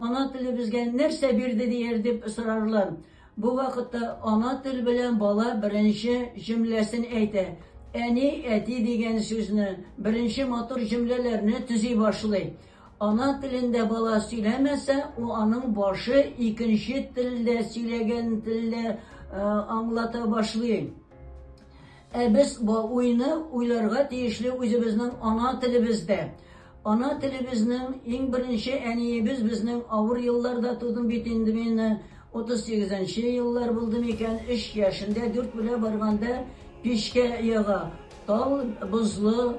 Ана теле безгә нәрсә бирде дияр дип сорарлар. Бу вакытта ана тел белән бала беренче җөмләсен әйтә. Әни, әти дигән сүзне, беренче матур җөмләләрне төзи башлый. Ана телендә бала сөйләмәсә, у аның башы икенче телдә сөйләгән телдә э, аңлата башлый. Ә без бу уйны уйларга тиешле үзебезнең ана телебездә. Ана телебезнең иң беренче әниебез безнең авыр елларда тудым бит инде мин 38 еллар булды микән, 3 яшендә 4 белә барганда пичкә яга. Тау бозлы,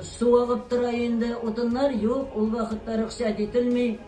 су агып тора инде, утыннар юк, ул вакытта рөхсәт ителми.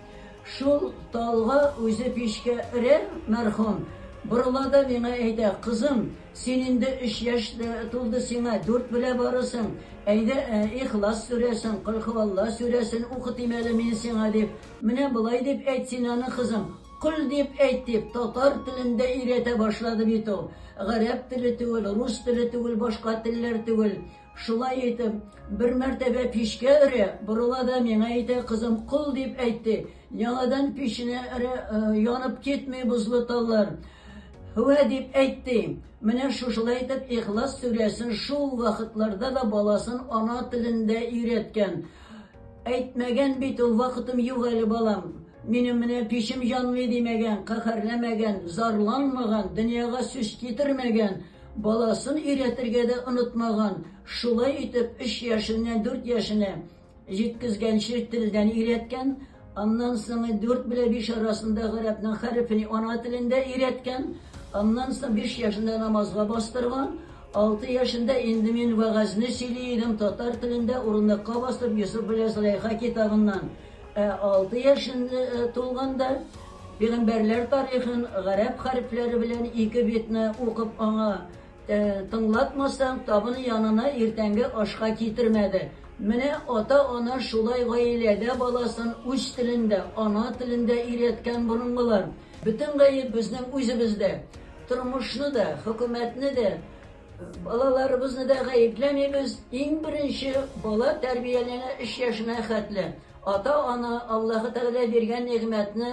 Шул талга үзе пичкә өрә, мәрхүм. Борыла да миңа әйтә, кызым, син инде өч яшь тулды сиңа, дүрт белә барысың, әйдә Ихлас сүрәсен, Колхуалла сүрәсен укытыйм әле мин сиңа, дип. Менә болай дип әйт син аны, кызым. Көл дип әйт дип, татар телен дә өйрәтә башлады бит ул. Гарәп теле түгел, рус теле түгел, башка телләр түгел. Шулай итеп, бер мәртәбә пичкә өрә, борыла да миңа әйтә, кызым, кол дип әйт ди. Яңадан печенә өрә, э, янып китми бозлы таллар. Һүә дип әйт ди. Менә шушылай итеп Ихлас сүрәсен шул вакытларда да баласын ана телендә өйрәткән. Әйтмәгән бит ул, вакытым юк әле, балам. Минем менә пичем җанмый димәгән, каһәрләмәгән, зарланмаган, дөньяга сүз китермәгән, баласын өйрәтергә дә онытмаган. Шулай итеп, өч яшеннән дүрт яшенә җиткезгәнче телдән өйрәткән. Аннан соң 4 белән 5 арасында гарәпнең хәрефен ана телендә өйрәткән. Аннан соң 5 яшендә намазга бастырган. 6 яшендә инде мин вәгазьне сөйли идем татар телендә урынлыкка басып Йосыф белән Зөләйха китабыннан. Ә 6 яшендә э, тулганда Пигамбәрләр тарихын гарәп хәрефләре белән ике битне укып аңа Тыңлатмасаң, табын янына иртәнге ашка китермә дә. Менә ата-ана шулай гаиләдә баласын үз телендә, ана телендә өйрәткән борынгылар. Бөтен гаеп безнең үзебездә. Тормышны да, хөкүмәтне дә, балаларыбызны да гаепләмибез. Иң беренче, бала тәрбияләнә өч яшенә хәтле. Ата-ана Аллаһы Тәгалә биргән нигъмәтне